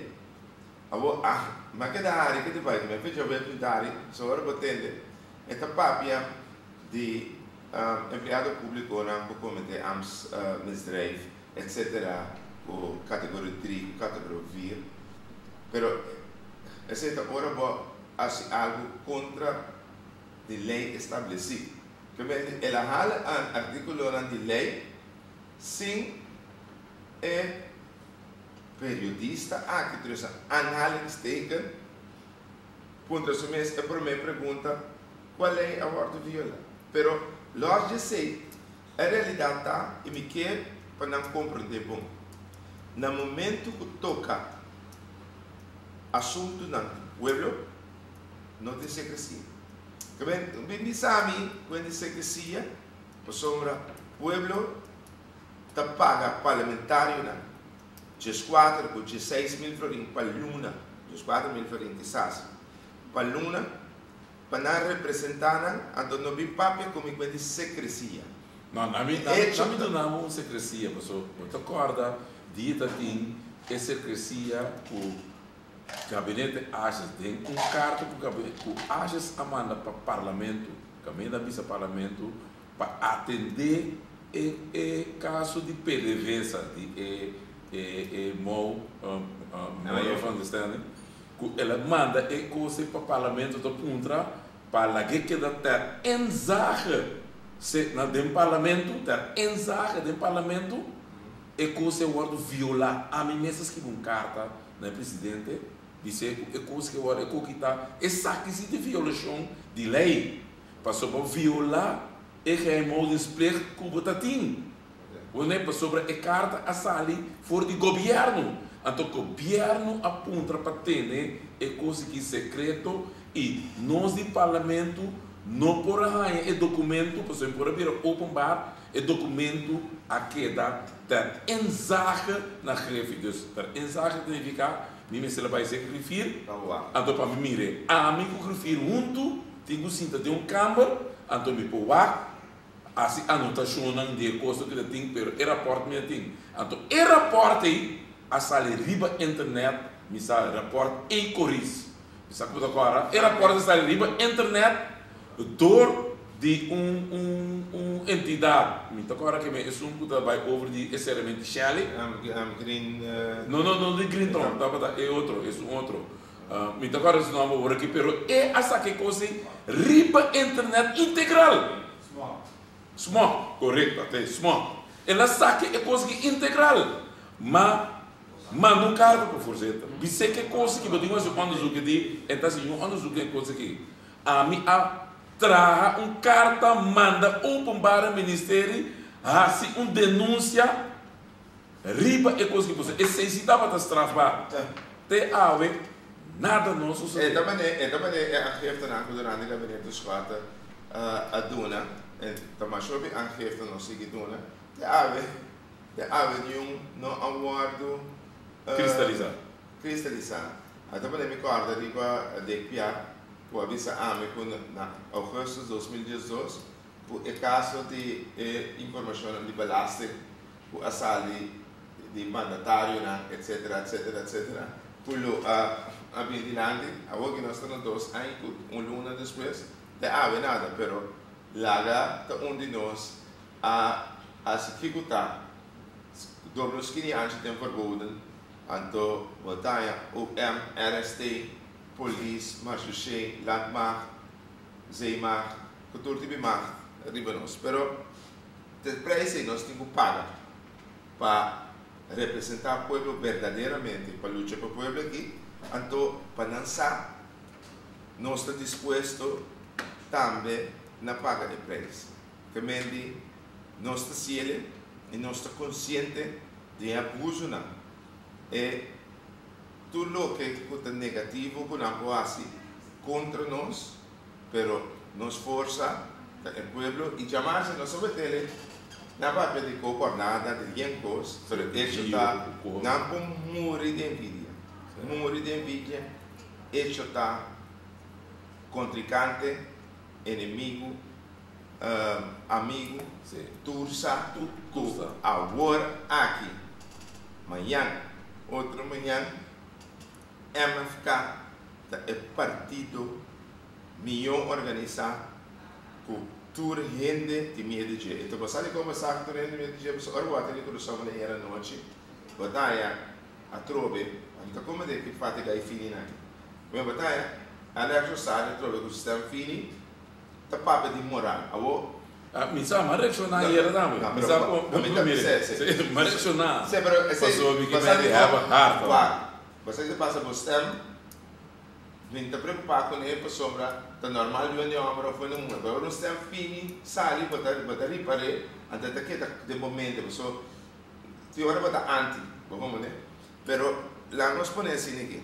Awor, ah, ma keda hari ke ta bai ku mi. Efecho, bo ya pinta hari, so ora bo tende e ta papia di empleado publiconan ku komite ambtsmisdrijf, etc. Ku categorie drie ku categorie vier. Pero esei ta ora bo hasi algu kontra di lei establesi. Ke mente el a hala an artículonan di lei. Si e periodista aki, tur esa aanhalingsteken, puntra su mes e promé pregunta, Kua lei a wòrdu viola? Pero lòs di esei, e realidat ta, i mi ke pa nan komprondé bon, na momentu ku toka asuntunan di pueblo, no tin sekresia. Ke men bin bisa mi ku e tin sekresia? Pasobra pueblo ta paga parlamentarionan dieskuater ku dieseis mil florin pa luna, dieskuater mil florin di sasi, pa luna pa nan representá nan, anto no bin papia ku mi kuenti sekresia. No, na mi, na mi duna bo un sekresia, paso bo ta kòrda di e ta tin e sekresia ku Gabinete Ages den un karta ku Gabinete ku Ages a manda pa Parlamento. Caminda a bisa Parlamento pa atende e e caso di pdvsa di e e e mou Maya van der Stende cu el a manda e cose pa Parlamento ta puntra pa lag'e keda ter enzage se na den Parlamento ter enzage den Parlamento e cose a wordo viola. Ami mes a scribi un carta na e Presidente Di secu, e cos ke worde cu kita, esaki si ta violacion di ley, pasobra viola e geheimhoudingsplicht cu bo ta tin. Bo ne pasobra e carta a sali for di Gobierno, anto Gobierno a puntra pa tene e cos aki secreto y nos di Parlamento no por a haya e documento pasobra e por a bira openbaar, e documento a keda ter inzage na Grefi. Dus ter inzage ta nifica Mi mester la bai sek rifir, anto pa mi mir'é. Ami ku rifir huntu tin ku sinta den un kamber, anto mi por wak hasi anotashonnan di e kosnan ku mi ta tin, pero e rapòrt mi a tin, anto e rapòrt ei a sali riba internet, mi sa rapòrt ei koris. Mi sa cu ta cora. E rapport a stari riba internet door di un un entidad. Mi ta cora que mi a esun cu ta bay over di e serementi Shelly. Am Green. No no no di Green Town tabata e otro esun otro. Mi ta cora su nomber awor aki pero e a saca e cos ey riba internet integral. Smock. Correcto ata e Smock. El a saca e cos aki integral. Ma Manda un karta pa Forzeta. Bis'é ke kos ki bo tin hasi un onderzoek e di, e ta hasi un onderzoek e kos aki. Ami a traha un karta manda Openbare Ministeri hasi un denunsia riba e kos ki bo sa. Esei si tabata strafbaar. Te awe nada no a sosodé. E ta manera e aangiftenan ku Durante Gabinete Schuarte a duna, ta masha hopi aangifte no sigui duna. Te awe. Te avenue no a wordo Cristalisá. cristalisá. A ta pone mi corda riba Dick Piatt cu a bisa ami cu na augustus dos mil diesdos cu e caso di e informacionnan di belasting cu a sali di mandatarionan etc. Etc. Etc. Cu lo a a bini dilanti. Awor que nos ta na dos aña cu un luna despues te awe nada pero laga ta un di nos. A hasi kiko ta Doble o skini anchi den verboden, anto bo ta haña OM, RST, polis, marechaussé, landmacht, zeemacht, ku tur tipi macht riba nos. Pero te preis ei nos tin ku paga pa representá pueblo berdaderamente, pa lucha pa pueblo aki, anto pa nan sa nos ta dispuesto tambe na paga e preis. Temente nos ta siede i nos ta konsiente di e abusunan. E tur loke ku ta negativo ku nan por hasi kontra nos, pero nos forsa ta e pueblo i djamasha nos a wet'el e nan papia di koko a blada, di yen kos, pero e echo ta nan por muri di envidia, muri di envidia, echo ta kontrikante, enemigu. amigu, tur sa tur ku awor aki mañan otro mañan MFK ta e partido mió organisá ku tur hende di miedu dje i ta basá di kon basá ku tur hende di miedu dje pasobra ora ku bo a tene krusou mañan yera anochi bataya atrobe a kita kon mester ki fatiga i fini nan. Bo ta haya Alex Rosario atrobe ku sistèm fini. ta papia di moran. Awor. Mi sa, m'a reacciona ayera tambe. No, pero pa mi ta, sí, sí. M'a reacciona. Sí, pero esei. Pasobra que mi di hèba hard. Wak, basaki ta pasa bo stem, mi ta preocupa cun'e pasobra ta normal di wende homber of wende muher. Pero ora un stem fini sali, bo ta, bo ta ripar'e, anto ta keda den bo mente. Paso, tin ora bo ta anti, bo comprende? Pero, laga nos pone asina aquí.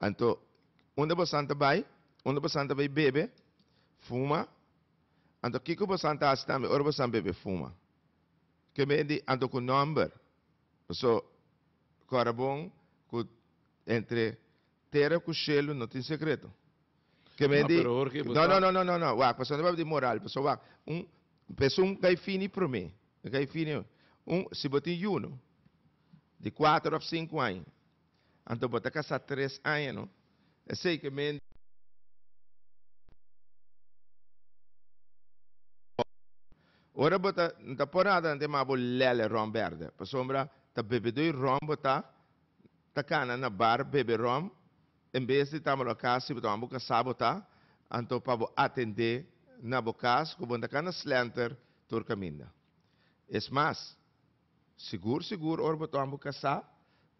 Anto, unda bosan ta bai? Unda bosan ta bai bebe, fuma? Anto, kiko bosan ta hasi tambe ora bosan bebe, fuma? Ke mei di anto ku nòmber. Paso, kòrda bon ku entre tera ku shelu no tin sekreto. Ke mei di. No, no, no, no, no, no, wak, paso no tabata di moral, paso wak, un pesun ka e fini promé, e ka e fini. Un, si bo tin yunu di kuater òf sinku aña, Anto bo ta kasá tres aña no? Esei ku e mente di bo. Ora bo ta N ta por adelante mas bo lele ròm bèrdè. Pasobra ta bebedoi ròm bo ta, ta kana na bar bebe ròm en bes di ta malo aká. Si bo ta wòrdu kasá bo ta, anto pa bo atendé na bo kas ku bo no ta kana slènter tur kaminda. Es mas. Sigur sigur ora bo toma bo kasá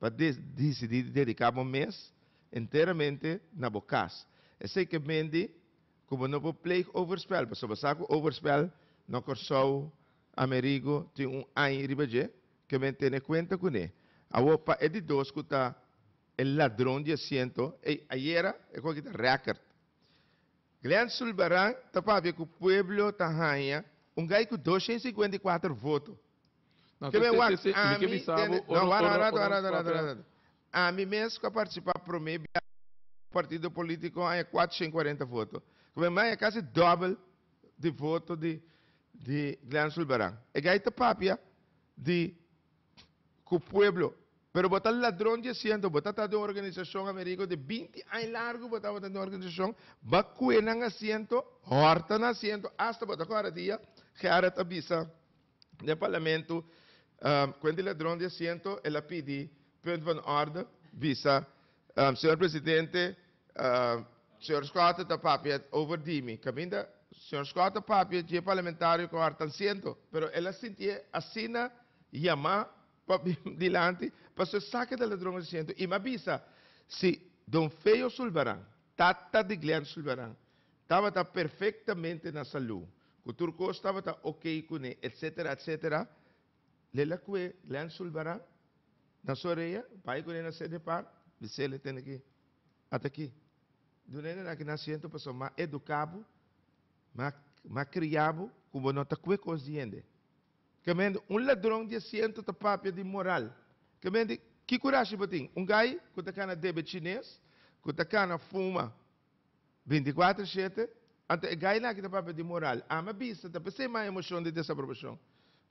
pa disidí di dediká bo mes enteramente na bo kas. Esei ke mende ku bo no por pleeg overspel pasobra bo sa ku overspel na Kòrsou, Amerigo, tin un ai riba dje ke men tene kuenta kuné. Awor pa e di dos ku ta e ladron di asiento, ey ayera e kòrda kita rèkèrt. Glen Zulbarán ta papia cu pueblo ta haña un gai cu doscientos cincuenta y cuatro voto. Ke men wak ami den e. No, wara, wara, wara, wara, wara, wara. Ami mes cu a participa prome biaha den e partido politico a haña cuatrocientos cuarenta voto. Cu men haña casi dobel di voto di Glen Zulbarán. E gai ta papia di. ku pueblo pero bo ta ladron di asiento bo ta ta den organisacion Amerigo di binti aña largu bo tabata den organisacion ba kue nan asiento horta nan asiento hasta bo ta kore di dia Gerard a bisa den parlamento kuent di ladron di asiento el a pidi punt van orde bisa señor presidente Señor Scott ta papia over di mi caminda Señor Scott ta papia dje parlamentario cu harta siento pero el a sintié asina yamá pa bini dilanti paso e saca e ladron e siento y m'a bisa si Don Feo Zulbarán tata di Glen Zulbarán tabata perfectamente na salú cu tur cos tabata ok cu ne etcetera etcetera lel a cue Glen Zulbarán na su orea bay cu ne na Cedepar bisele tene ki Ata ki, duna e nana ki na siento pasobra mi a educa bo, mi a cria bo cu bo no ta cue cos di hende. Caminda un ladron di asiento ta papia di moral. Caminda ki curashi bo tin? Un guy cu ta cana debe chines, cu ta cana fuma. Binticuatro shete, Anto e gaina aki ta papia di moral, ama a bista, ta p'esei mas emocion di desaprobacion.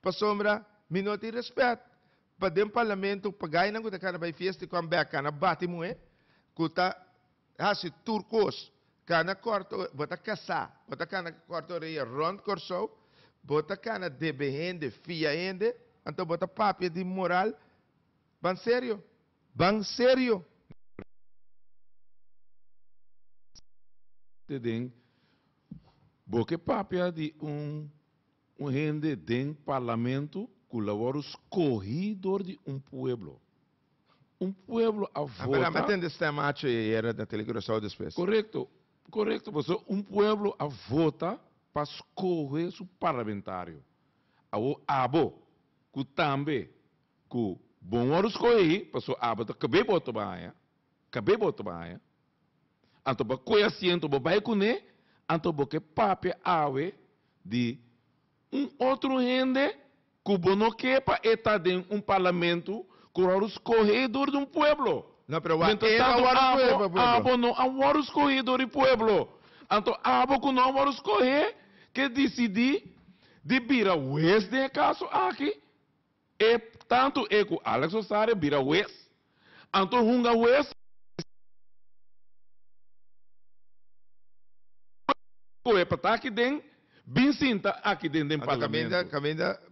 Pasobra mi no tin respet pa den parlamento pa gainan cu ta cana bay fiesta y come bek, cana bati muhe, cu ta haci tur cos, cana corta ore, bo ta casa, bo ta cana corta oreya rond Corsou, bo ta cana debe hende, fia hende, anto bo ta papia di moral? Ban serio? Ban serio mi pregunta e den bo ke papia di un un hende den parlamento ku la wòrdu skohi dor di un pueblo un pueblo a vota. Apenas mi a tende stem acho e ayera na Tele Curaçao despues. Korekto korekto pasobra un pueblo a vota pa skohe su parlamentario awor abo ku tambe Ku bo wòrdu skohé, pasó abo ta kab'é bo ta baña, kab'é bo ta baña. Anto pa kohe asiento bo bai kuné, anto bo ke papia awe di un otro hende ku bo no ke pa e ta den un parlamento ku wòrdu skohé dor di un pueblo. No, pero wak, e no a wòrdu skohé pa pueblo. Mientras tanto abo, abo no a wòrdu skohé dor di pueblo. Anto abo ku no a wòrdu skohé, ke disidí di bira wes den e kaso aki. E tantu e ku Alex Osario bira wes, anto hunga wes kohe pa ta aki den, bin sinta aki den den parlamento.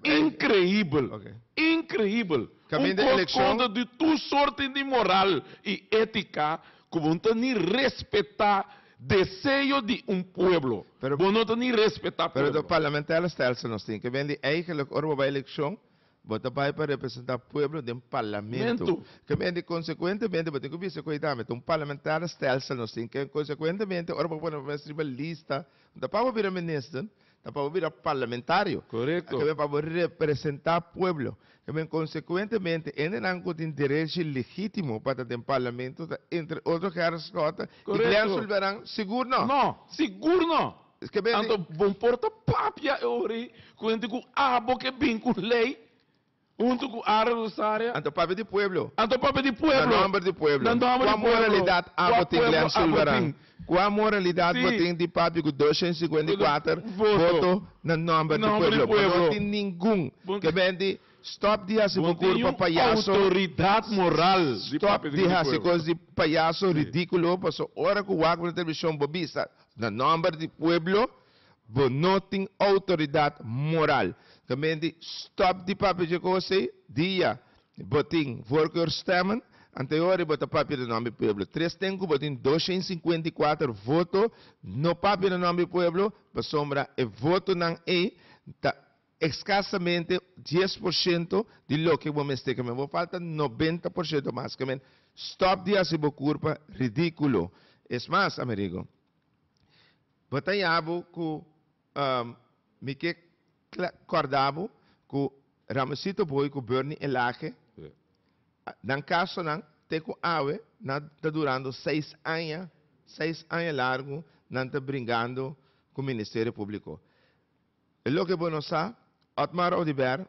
Inkreibel! Inkreibel! Un kos kontra di tur sorti di moral i etika ku bo no ta ni respetá Deseo di un pueblo. Bo no ta ni respetá pueblo. Pero parlamentarios stelsel nos tin ke ven di eigenlik ora bo bai eleccion bo ta bai pa representá pueblo den parlamento. Ke ven di consecuentemente bo tin ku bisa ku ei tambe ta un parlamentario stelsel nos tin ke consecuentemente ora bo pone bo mes riba lista unda pa bo bira minister Ta pa bo bira parlamentario. Korekto. Tabata pa bo representá pueblo. Ta bien, konsekuentemente hendenan ku tin derechi legítimo pa ta den parlamento ta entre otro Gerrit Schotten i Glen Korekto. Sulberan? Sigur nò. Nò. Sigur nò. Esque bende. Anto bon por ta papia e ora ei ku hende ku abo ke bin ku un lei. Huntu ku Aaron ku Sarea. Anto papia di pueblo. Anto papia di pueblo. Na nòmber di pueblo. Na nòmber di pueblo. Kua moralidat abo tin Glen Sulvaran? Kua moralidat bo tin di papia ku doshen sikuenta i kuater voto na nòmber di pueblo? Bo no tin ningun. Ke menti. Stòp di hasi bo kur pa payaso. Bo no tin un outoridat moral di papia di pueblo. Stòp di hasi kos di payaso ridíkulo paso ora ku wak bo na televishon bo bisa na nòmber di pueblo Bo no tin outoridat moral. Gemeente, stop di papia dje koos ei. Dia bo tin voorkeurstemmen, ante hori bo ta papia den nòmber di pueblo. Tres den ku bo tin doshent i sinkuenta i kuater voto no papia den nòmber di pueblo pasobra e votonan ei ta eskasamente dies por shento di loke bo mester. Gemeente, bo falta nobenta por shento mas. Gemeente, stop di hasi bo kurpa ridíkulo. Es mas, Amerigo. Bo ta ya bo ku mi ke kòrda bo ku Ramosito Booi ku Bernie Elage, nan kasonan te ku awe nan ta durando seis aña, seis aña largu nan ta bringando ku Ministerio Públiko. E loke bo no sa, Otmar Oduber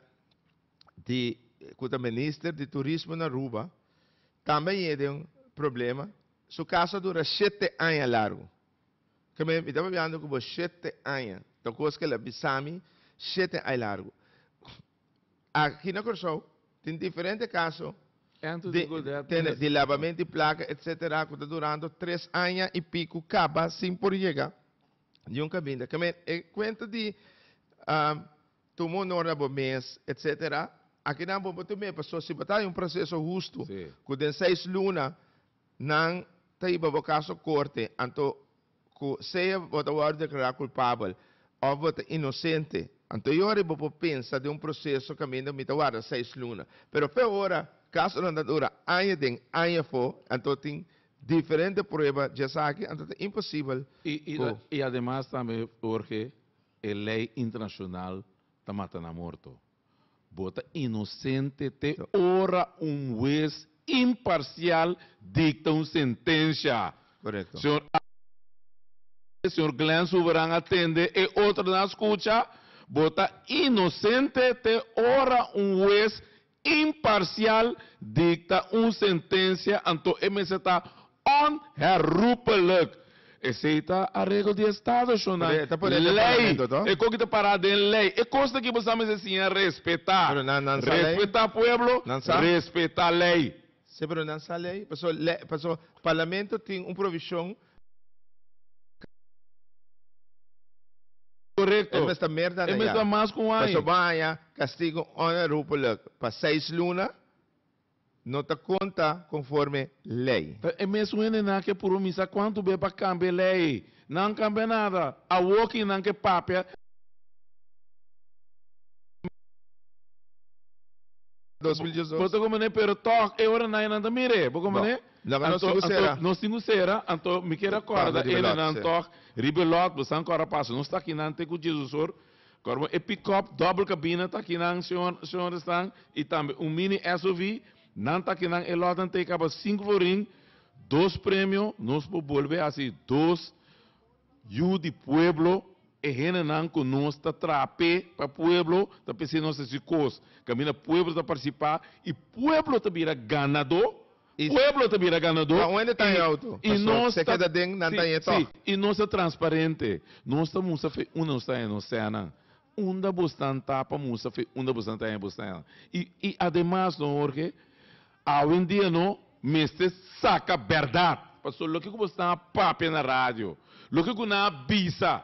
di ku ta Minister di Turismo na Aruba tambe a yega den un problema, su kaso a dura shete aña largu. Carmen, mi ta papiando cu bo shete aña, ta cos que el a bisami shete ay largo. Aki na Corsou tin diferente caso di labamento di placa etc. Cu ta durando tres aña y pico caba sin por yega di un caminda. Carmen, e cuento di tuma honor na bo mes etc. Aki nan bo bo ta mira paso si bo ta haci un proceso husto cu den seis luna. Nan ta hiba bo kaso korte anto ku sea bo ta wòrdu deklará kulpabel òf bo ta inosente. Anto e ora ei bo por pensa den un proseso kaminda mi ta warda seis luna. Pero fe ora kasonan ta dura aña den, aña afó, anto tin diferente prueba dje esaki, anto ta imposibel ku. I ademas tambe, Jorge, e lei internashonal ta mata nan morto. Bo ta inosente te ora un hues imparcial dicta un sentencia. Correcto. Señor Abner Gonzalez, señor Glen Suberan a tende, e otronan a scucha, bo ta inosente te ora un hues imparcial dicta un sentencia, anto e mester ta Onherroepelijk! Esei ta a regel di Estadoshonnan, lei. E koki ta pará den lei. E kos akí bo sa mester siña respetá. Respetá pueblo, respetá lei. Sí, pero nan sa lei. Paso le, paso parlamento tin un provishon. Korekto. E mes ta mer dan aña. E mes ta mas ku un aña. Paso bo a haña kastigo onherroepelijk pa seis luna, No ta konta konforme lei. Ta e mesun hendenan ke puru misa kuantu be pa kambia e lei. Nan kambia nada. Awo kin nan ke papia e Bo ta kompané pero tòg e ora nai nan ta mira e. Bo kompané? Anto anto nos tin ku sera anto mi keda kòrda hendenan tòg riba e lòt bo sa ankor a pasa. Nos ta kinan te ku Jesus or. Korba e pick-up doble kabina ta akinan, señor, señor esnan, i tambe un mini SUV, nan ta akinan. E lòtnan ta e kaba sinku florin, dos premio. Nos por bolbe hasi dos Yu di Pueblo. E hendenan ku nos ta traha p'e pa pueblo ta pens'é nos hasi kos kaminda pueblo ta partisipá i pueblo ta bira ganadó. I pueblo ta bira ganadó i i nos ta si si i nos ta transparente nos ta mustra fe unda nos ta haña nos sènan unda bo stan ta pa mustra fe unda bo stan ta haña bo sènan i i ademas no Jorge awendia no mester saka bèrdat pasobra loke ku bo stan a papia na radio loke ku nan a bisa.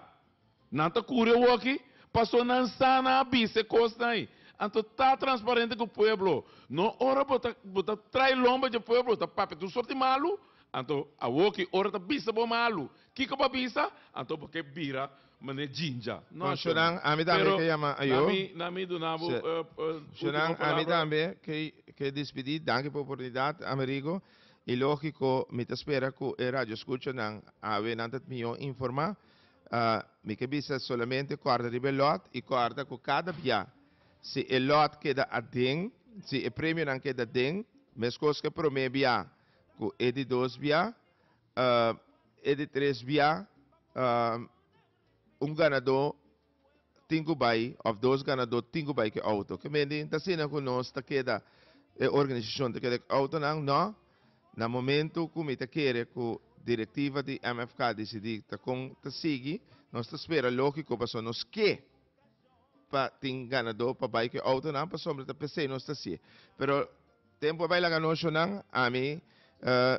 Nan ta curi awoki? Paso nan sa nan a bisa e cosnan. Anto ta transparente cu pueblo. No ora bo ta bo ta trae lomba dje pueblo ta papia tur soort di malu. Anto awoki ora ta bisa bo malu kico bo a bisa anto bo ke bira mane jinja. No shonang ami tambe Pero ke yama ayo. na mi na mi duna bo e ultimo palabra. Shonang ami tambe ke despidi. Danki por oportunidad Amerigo. Y logico mi ta spera cu e radio escucha nan awe nan ta mior informa. Mi ke bisa solamente kòrda riba e lòt i kòrda ku kada bia si e lòt keda aden, si e premionan keda aden, meskos ku e promé bia, ku e di dos bia, e di tres bia, un ganadó tin ku bai òf dos ganadó tin ku bai ku e outo. Ke men di? N ta asina ku nos ta keda, e organisashon ta keda ku e outonan? Nò. Na momentu ku mi ta kere ku direktiva di MFK disidí ta kon ta sigui, nos ta spera lógiko pasobra nos ke pa tin ganadó pa bai ku e outonan pasobra ta p'esei nos ta hasié. Pero tempu a bai laga anochonan, ami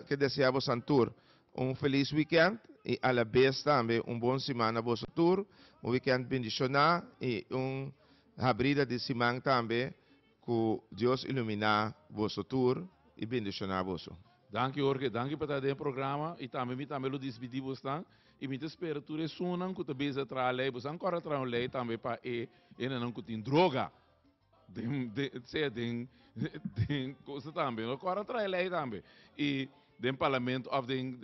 ke deseá bosan tur un felis wikènt i alabes tambe un bon simana boso tur, un wikènt bendishoná i un habrida di siman tambe. Ku Dios iluminá boso tur i bendishoná boso. Danki Jorge, danki pa ta den e programa i tambe mi tambe lo dispidi bosnan i mi ta spera tur esunnan ku ta beza traha lei bosan kòrda traha un lei tambe pa e enanan ku tin droga den den sea den den kosa tambe no kòrda traha e lei tambe i den parlamento òf den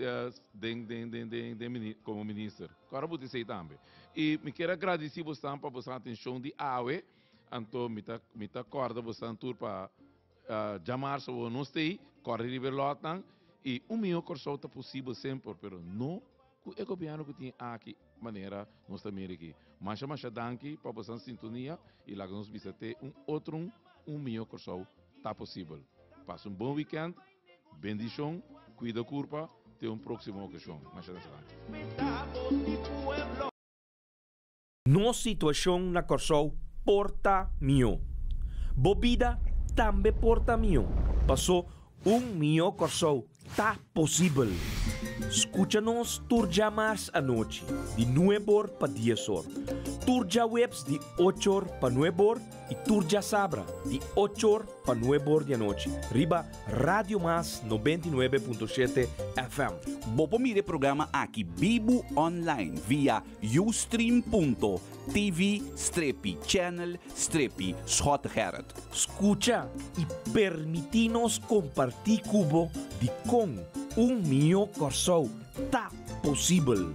den den den den den mini komo minister kòrda bot'esei tambe i mi kier a gradisi bosnan pa bosan atenshon di awe. Anto mi ta mi ta kòrda bosanan tur pa djamar so wou nos tei kòre riba e lòtnan i un mihó Kòrsou ta posibel semper pero no ku e gobièrnu ku tin aki manera nos ta mira aki. Masha masha danki pa bosanan sintonia i laga nos bisa te un otro'n un mihó Kòrsou ta posibel. Pasa un bon wikènt, bendishon, kuida kurpa, te un próksimo okashon. Masha masha danki. Nos situacion na Corsou por ta mihó. Bo bida tambe por ta mihó. Paso un mihó Corsou ta posibel. Scucha nos tur djamars anochi di nueb or pa dies or, tur djaweps di ocho or pa nueb or y tur djasabra di ocho or pa nueb or di anochi riba Radio Mas nobenta i nuebe punto shete FM. Bo por mira e programa aki bibu online via. Ustream.tv strepi channel strepi Schot Gerrit. Scucha y permiti nos comparti cu bo di con un mijo Corsou ta posibel.